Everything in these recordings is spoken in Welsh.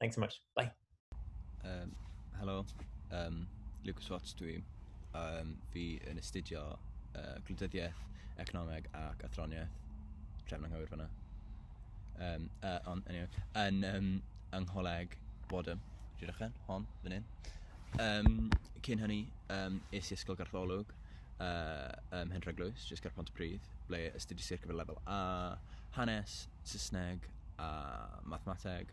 Thanks so much. Bye. Um, hello. Um, Lucas Watts dwi. Um, fi yn astudio uh, gwleidyddiaeth, economeg ac athroniaeth. Trefn anghywir fyna. Um, uh, on, anyway, yn um, yng ngholeg Bodham. Dwi'n rhaid hon, fan hyn. Um, cyn hynny, um, es i ysgol gartholwg uh, um, Henry Glwys, jyst ger Pont y Pryd, ble astudies i'r gyfer lefel A, hanes, Saesneg a mathemateg.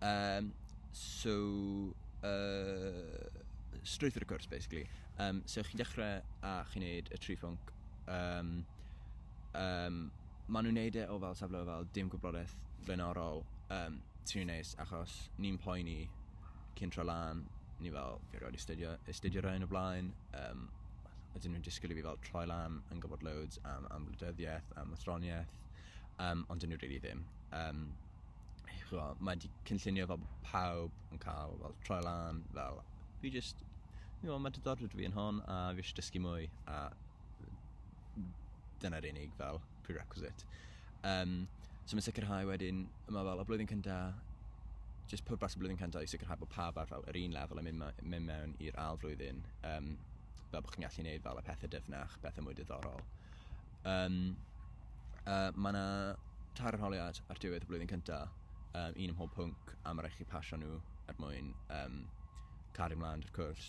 Um, so, uh, strwythur y cwrs, basically. Um, so, chi'n dechrau a chi'n neud y tri ffwnc. Um, um, maen nhw'n neud e o fel safle o fel dim gwyblodaeth flaenorol. Um, ti'n neis, achos ni'n poeni cyn tro lan, ni fel, fi roed i studio, i studio rhain o blaen, um, a dyn nhw'n disgwyl i fi fel troi lan yn gwybod loads am, am wleidyddiaeth, am athroniaeth, um, ond dyn nhw rili really ddim. Um, chwa, mae di cynllunio fel pawb yn cael fel troi lan, fel fi just, you know, mae diddordeb fi yn hon a fi eisiau dysgu mwy a dyna'r unig fel prerequisite. Um, so mae'n sicrhau wedyn, yma fel y blwyddyn cynta, just pwrpas y blwyddyn cynta i sicrhau bod pawb ar fel yr un lefel yn mynd, mynd mewn i'r ail flwyddyn, um, fel bod chi'n gallu gwneud fel y pethau dyfnach, pethau mwy diddorol. Yym, yy, mae 'na tair arholiad ar diwedd y blwyddyn cynta, yym, un ym mhob pwnc, a ma' raid chi pasio nhw er mwyn yym cario mlaen 'da'r cwrs.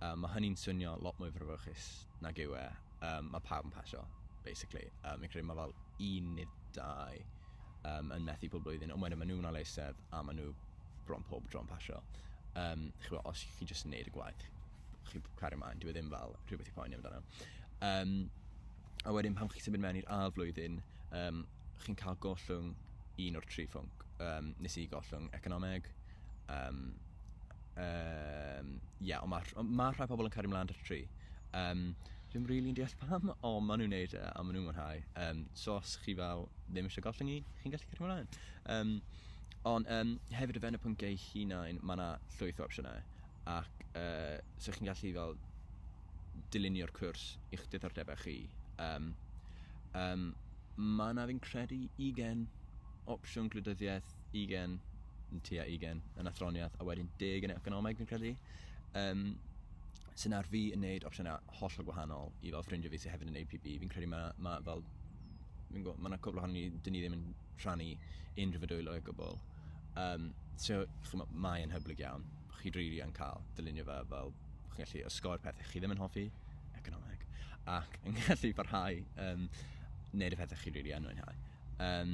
Yym, ma' hynny'n swnio lot mwy frawychus nag yw e. Yym, ma' pawb yn pasio, basically. Yym, fi'n credu ma' fel un neu dau yym yn methu pob blwyddyn, ond wedyn ma' nhw 'na leiseb a ma' nhw bron pob tro'n pasio. Yym, ch'mo', os chi jyst yn neud y gwaith, chi'n cario mlaen, dyw e ddim fel rhywbeth i poeni amdano. Um, a wedyn pan chi'n symud mewn i'r ail flwyddyn, um, chi'n cael gollwng un o'r tri ffwnc. Um, nes i gollwng economeg. Um, um, yeah, ond mae ma rhai pobl yn cario mlaen ar tri. Um, Dwi'n rili'n really deall pam, o, maen nhw'n neud e, a maen nhw'n mwynhau. Um, so os chi fel ddim eisiau gollwng un, chi'n gallu cario mlaen. Um, Ond um, hefyd o fewn y pynciau hunain, mae yna llwyth o opsiynau. ac yy 'sa chi'n gallu fel dylunio'r cwrs i'ch diddordebau chi. Yym, yym, mae yna fi'n credu ugen opsiwn gwleidyddiaeth, ugen, yn tua ugen, yn athroniaeth, a wedyn deg yn economeg fi'n credu. Um, sy'n ar fi yn neud opsiynau hollol gwahanol i fel ffrindiau fi sydd hefyd yn APB. Fi'n credu mae, mae fel mae yna cwbl ohono ni, dyn ni ddim yn rhannu unrhyw fedwylo o gwbl. Um, so, chymod, mae yn hyblyg iawn. chi rili yn cael dylunio fe fel bo' chi'n gallu osgoi'r pethe chi ddim yn hoffi, economeg, ac yn gallu parhau um, wneud y pethau chi rili yn mwynhau. Um,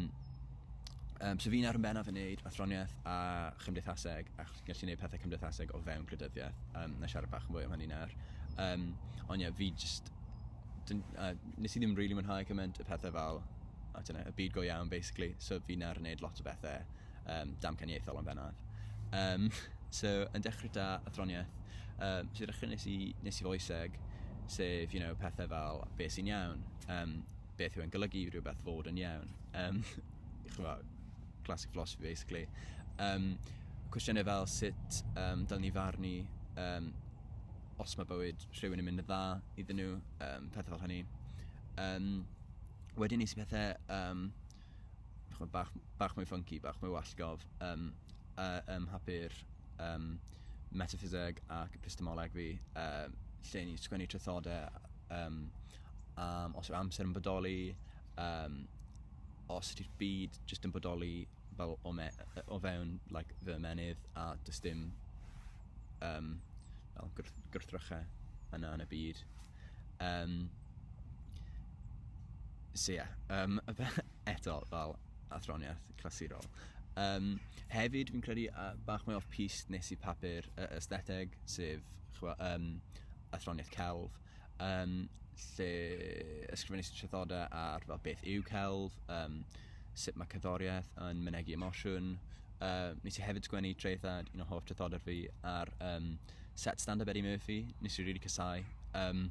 um, so fi'n ar yn bennaf yn wneud athroniaeth a chymdeithaseg, a chi'n gallu gwneud pethau cymdeithaseg o fewn gwleidyddiaeth. Um, na siarad bach yn fwy am hynny nawr. Um, ond ie, yeah, fi just... Dyn, uh, nes i ddim rili really mwynhau cymaint y pethau fel, I don't know, y byd go iawn, basically. So fi'n ar yn wneud lot o bethau um, damcaniaethol yn bennaf. Um, so, yn dechrau da athroniaeth, um, so dechrau nes i, nes i foeseg, sef, you know, pethau fel beth sy'n iawn, um, beth yw'n golygu rhywbeth fod yn iawn. Um, chwa, classic philosophy, basically. Um, cwestiynau fel sut um, dylen ni farnu um, os mae bywyd rhywun yn mynd yn dda iddyn nhw, um, pethau fel hynny. Um, wedyn nes i pethau um, ch'mod bach bach mwy ffynci bach mwy wallgof yym yy ym mhapur yym metaffiseg ac epistemoleg fi yy lle o'n i'n sgwennu traethode yym am os yw'r amser yn bodoli yym os ydi'r byd jyst yn bodoli fel o me- yy o fewn like fy ymennydd a does dim yym fel gwrth- gwrthrychau yna yn y byd. Um, so ie, yeah, um, eto fel athroniaeth clasurol. Um, hefyd, fi'n credu uh, bach mwy off pist nes i papur uh, ystheteg, sef chwa, um, athroniaeth celf, um, lle ysgrifennu trethodau ar fel beth yw celf, um, sut mae cyddoriaeth yn mynegu emosiwn. Uh, nes i hefyd sgwennu traethad, un o hoff trethodau fi, ar um, set stand up Eddie Murphy nes i rili casáu yym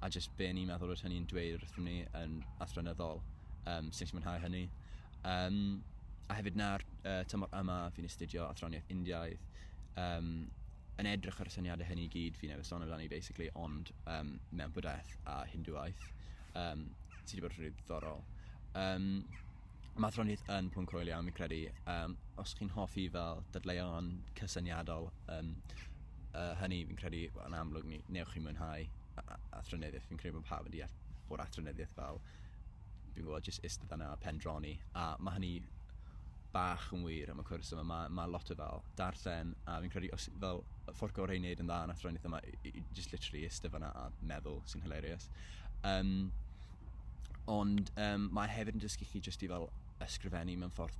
a jyst be o'n i'n meddwl odd hynny'n dweud wrthym ni yn athronyddol yym so nes i mwynhau hynny yym a hefyd nawr yy tymor yma fi'n astudio athroniaeth Indiaidd yym yn edrych ar y syniade hynny i gyd fi newydd sôn amdani basically ond yym mewn Bwdhaeth a Hindŵaeth yym sy' 'di bod yn rili ddiddorol. Yym. Maddroniaeth yn pwnc hwyl iawn fi'n credu yym os chi'n hoffi fel dadleuon cysyniadol yym yy hynny fi'n credu wel yn amlwg ni newch chi mwynhau a- a- athronyddeth fi'n credu bo' pawb yn deall bod athronyddeth fel dwi'n gwbod jyst istedd yna a pendroni a ma' hynny bach yn wir am y cwrs yma ma' ma' lot o fel darllen a fi'n credu os fel y ffordd gorau i neud yn dda yn athronyddeth yma i- i- jyst literally istedd fana a meddwl sy'n hilarious. Yym. Ond um, mae hefyd yn dysgu chi jyst i fel ysgrifennu mewn ffordd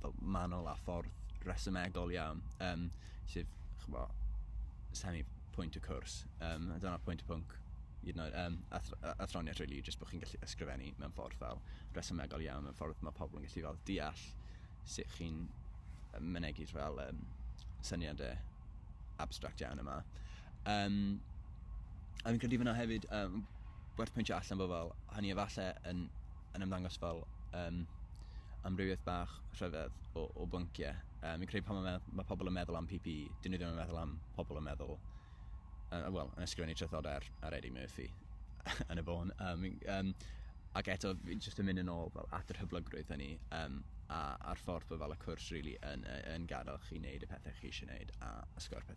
fel manol a ffordd resymegol iawn, um, sef, chyfo, semi pwynt y cwrs. Um, a dyna pwynt y pwnc, you know, um, athroniaeth rili, really, jyst bod chi'n gallu ysgrifennu mewn ffordd fel resymegol iawn, mewn ffordd mae pobl yn gallu fel deall sut chi'n mynegyd fel um, syniadau abstract iawn yma. Yym, a fi'n credu fan'na hefyd, yym, werth pwyntio allan bod fel, hynny efalle yn, yn ymddangos fel, yym, amrywiaeth bach rhyfedd o, o bynciau. Yym, fi'n credu pan ma' me- ma' pobl yn meddwl am PPE, 'dyn nhw ddim yn meddwl am pobl yn meddwl, yy, wel, yn ysgrifennu traethodau ar, ar Eddie Murphy yn y bôn. Yym, fi'n, yym, ac eto, fi jyst yn mynd yn ôl fel at yr hyblygrwydd hynny, yym, a, a'r ffordd bod fel y cwrs rili yn, yy, yn gadael chi wneud y pethau chi eisiau wneud a osgoi'r pethau...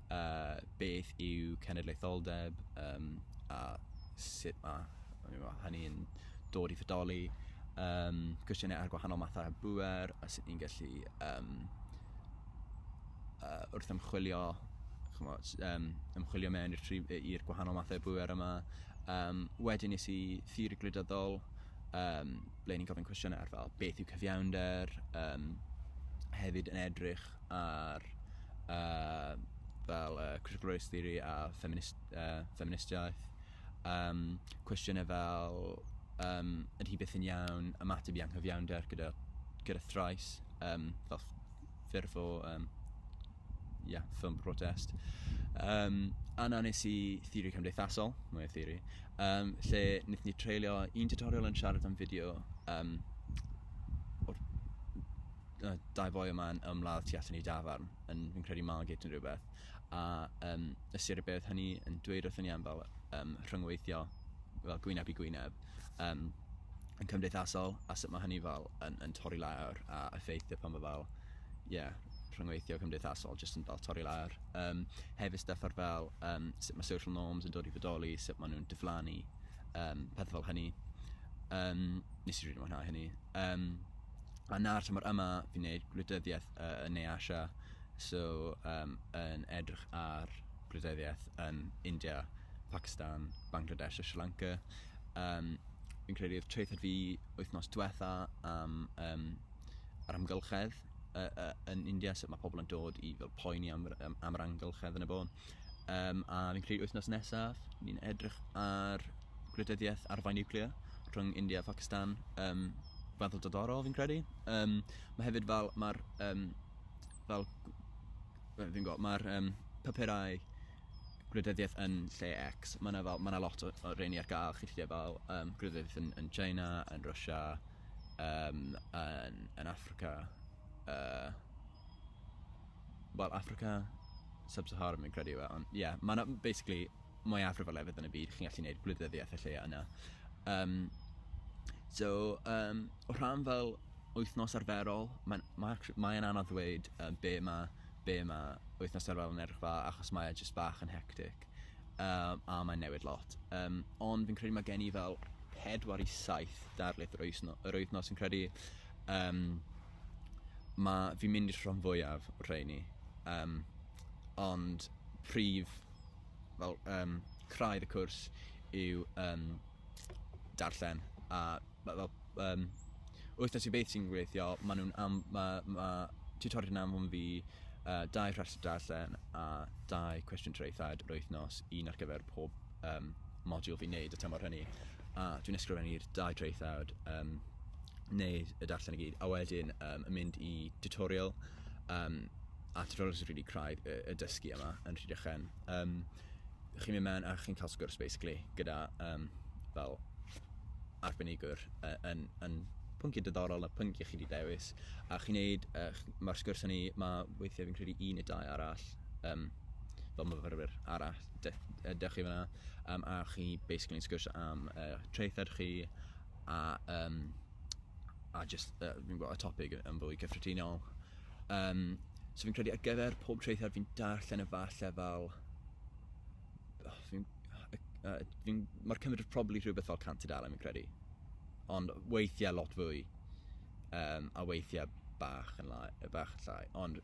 uh, beth yw cenedlaetholdeb um, a sut mae hynny'n dod i fodoli, um, cwestiynau ar gwahanol mathau bwer a sut ni'n gallu um, uh, wrth ymchwilio chymod, um, ymchwilio mewn i'r gwahanol mathau bwer yma. Um, wedyn nes i thir glydyddol, um, ble ni'n gofyn cwestiynau ar fel beth yw cyfiawnder, um, hefyd yn edrych help ar uh, fel uh, critical race theory a feminist, uh, feministiaeth. Um, cwestiynau fel, um, ydy hi byth yn iawn ymateb i anghyfiawnder gyda, gyda thrais, um, fel ffurf o um, yeah, ffilm protest. Um, a na nes i theori cymdeithasol, mwy o theori, um, lle wnaethon ni treulio un tutorial yn siarad am fideo um, o'r y dau boi yma yn ymladd tu allan i dafarn yn fi'n credu Margate yn rhywbeth a um, ystyr y beth hynny yn dweud wrthyn ni am fel um, rhyngweithio fel gwyneb i gwyneb um, yn cymdeithasol a sut mae hynny fel yn, yn torri lawr a effeithio pan mae fel ie yeah, rhyngweithio cymdeithasol jyst yn fel torri lawr. Um, hefyd stuff ar fel um, sut mae social norms yn dod i fodoli, sut maen nhw'n diflannu, um, pethau fel hynny. Um, nes i rili mwynhau hynny. Um, A 'na'r tymor yma fi'n neud gwleidyddiaeth yy yn Ne Asia so yym yn edrych ar gwleidyddiaeth yn India, Pacistan, Bangladesh a Sri Lanka yym fi'n credu odd traethawd fi wythnos dwetha am yym yr amgylchedd yy yy yn India sut ma' pobol yn dod i fel poeni am yr yym am yr amgylchedd yn y bôn. Yym, a fi'n credu wythnos nesaf, ni'n edrych ar gwleidyddiaeth arfau niwclear rhwng India a Phacistan. Yym, weddol diddorol fi'n credu. Yym, ma' hefyd fel, ma'r yym, fel gw- wel, fi'n gwybod, ma'r yym, papurau gwleidyddiaeth yn lle X, ma' 'na fel, ma' 'na lot o o rheiny ar gael, chi'n gallu gael fel yym gwleidyddiaeth yn yn China, yn Russia, yym yn yn Affrica, yy. wel, Africa Sub-Saharan fi'n credu yw e, ond ie, yeah, mae yna, basically, mwyafrif o lefydd yn y byd, chi'n gallu gwneud gwleidyddiaeth y lleia yna. Um, so, um, o rhan fel wythnos arferol, mae'n ma, ma anodd ddweud um, be mae be ma wythnos arferol yn edrych fa, achos mae e jyst bach yn hectic, um, a mae'n newid lot. Um, ond fi'n credu mae gen i fel pedwar i saith darlith yr, wythno, yr wythnos, fi'n credu um, ma' fi'n mynd i'r rhan fwyaf o'r rheini yym ond prif fel yym craidd y cwrs yw yym darllen a ma' fel yym wythnos i beth sy'n gweithio ma' nw'n am- ma' ma' tiwtoriaid yn anfon fi yy dau rhestr darllen a dau cwestiwn traethawd yr wythnos un ar gyfer pob yym modiwl fi'n neud y tymor hynny a dwi'n ysgrifennu'r dau traethawd yym neud y darllen i gyd a wedyn yym yn mynd i tutorial yym a tutorial sy'n rili craidd y, y dysgu yma yn Rhydychen. Um, chi'n mynd mewn a chi'n cael sgwrs basically gyda um, fel arbenigwr uh, yn, yn pwnciau diddorol na pwnciau chi wedi dewis a chi'n neud, uh, mae'r sgwrs hynny, mae weithiau fi'n credu un neu dau arall um, fel myfyrwyr arall dych chi fan'na yym a chi basically'n sgwrsio am eich traethawd chi a yym a jyst yy fi'n gwybod y topig yn fwy cyffredinol yym so fi'n credu ar gyfer pob traethawd fi'n darllen e falle fel fi'n yy yy fi'n ma'r cymryd probably rhywbeth fel cant tudalen fi'n credu ond weithiau lot fwy yym a weithiau bach yn la- bach yn llai ond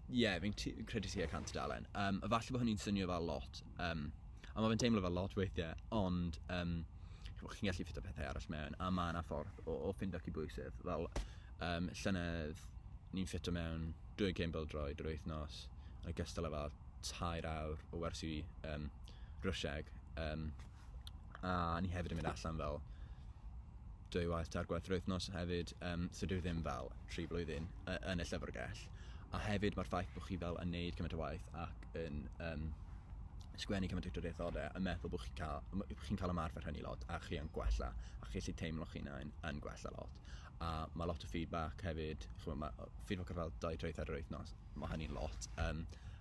Ie, fi'n tu- fi'n credu tua cant tudalen. Yym, a falle bo' hynny'n swnio fel lot, yym, a ma' fe'n teimlo fel lot weithie, ond, yym, ch'mo' chi'n gallu ffitio pethe arall mewn, a ma' 'na ffordd o o ffindo cydbwysedd. Fel, yym, llynedd, o'n i'n ffitio mewn dwy gêm bêl-droed yr wythnos, yn ogystal â fel tair awr o wersi, yym, Rwsieg, yym. A o'n i hefyd yn mynd allan fel dwy waith, tair gwaith yr wythnos hefyd. Yym, so dyw e ddim fel tri blwyddyn y- yn y llyfrgell. A hefyd ma'r ffaith bo' chi fel yn neud cymaint o waith ac yn yym sgwennu cymaint o draethodau a meddwl bo' chi'n ca'l m- bo' chi'n ca'l ymarfer hynny lot a chi yn gwella a chi gallu teimlo'ch hunain yn gwella lot. A ma' lot o feedback hefyd ch'mo' ma' o- feedback o fel dau traethawd yr wythnos ma' hynny'n lot yym.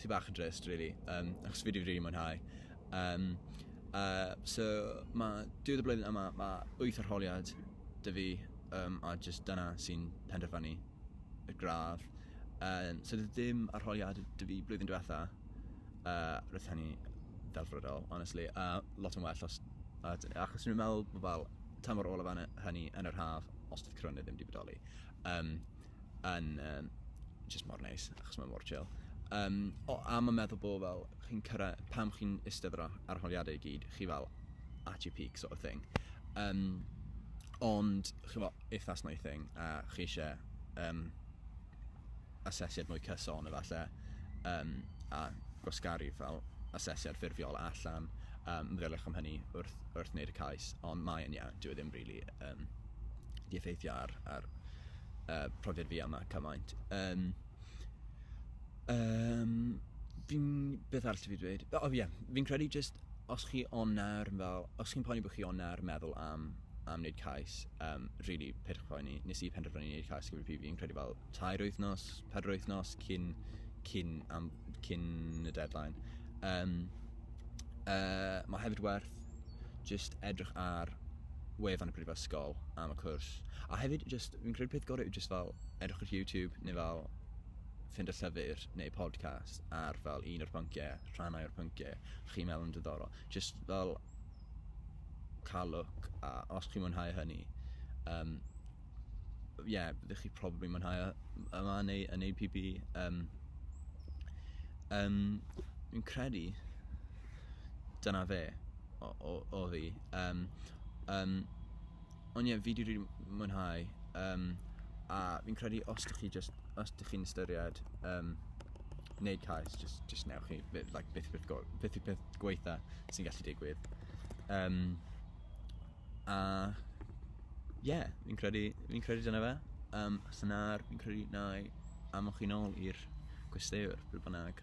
sy bach yn drist rili yym achos fi 'di rili mwynhau. Yym yy so ma' diwedd y blwyddyn yma ma' wyth arholiad 'da fi yym a jyst dyna sy'n penderfynu y gradd. Yym so do'dd dim arholiad 'da fi blwyddyn dwetha yy roedd hynny ddelfrydol honestly a lot yn well os a- d- achos o'n i'n meddwl bo' fel tymor olaf yn y hynny yn yr haf os do'dd corona ddim 'di bodoli. Yym. yn um, just mor neis, achos mae mor chill. Um, o, a mae'n meddwl bod fel, chi'n cyrra, pam chi'n istedd ar arholiadau i gyd, chi fel at your peak sort of thing. Um, ond, chi fel, if that's not your thing, a chi eisiau um, asesiad mwy cyson efallai, um, a gwasgaru fel asesiad ffurfiol allan, um, meddyliwch am hynny wrth, wrth wneud y cais, ond mae'n iawn, dwi e ddim rili really, um, di effeithio ar, ar yy profiad fi yma cymaint. Yym yym fi'n... beth arall dw i 'di dweud? O ie, fi'n credu jyst os chi ond nawr yn fel... os chi'n poeni bod chi ond nawr yn meddwl am am wneud cais yym rili peidiwch â phoeni. Wnes i penderfynu wneud cais gyda PB fi'n credu fel tair wythnos, pedwar wythnos cyn cyn am- cyn y deadline. Yym yy mae o hefyd werth... jyst edrych ar wefan y brifysgol am y cwrs. A hefyd, jyst, fi'n credu peth gorau yw jyst fel edrych ar YouTube neu fel ffind y llyfr neu podcast ar fel un o'r pynciau, rhannau o'r pynciau, chi'n meddwl yn diddorol. Jyst fel cael look, a os chi'n mwynhau hynny, um, yeah, byddwch chi probably mwynhau yma neu yn ei PB. Um, um, fi'n credu, dyna fe o- o- o fi. Yym yym ond ie fi 'di rili m- mwynhau yym a fi'n credu os dych chi jyst os dych chi'n ystyried yym wneud cais jyst jyst wnewch chi b- like beth beth go- beth yw peth gwaetha sy'n gallu digwydd. Yym a ie fi'n credu fi'n credu dyna fe. Yym os na fi'n credu wnâi anfon chi nôl i'r gwesteiwr pryd bynnag.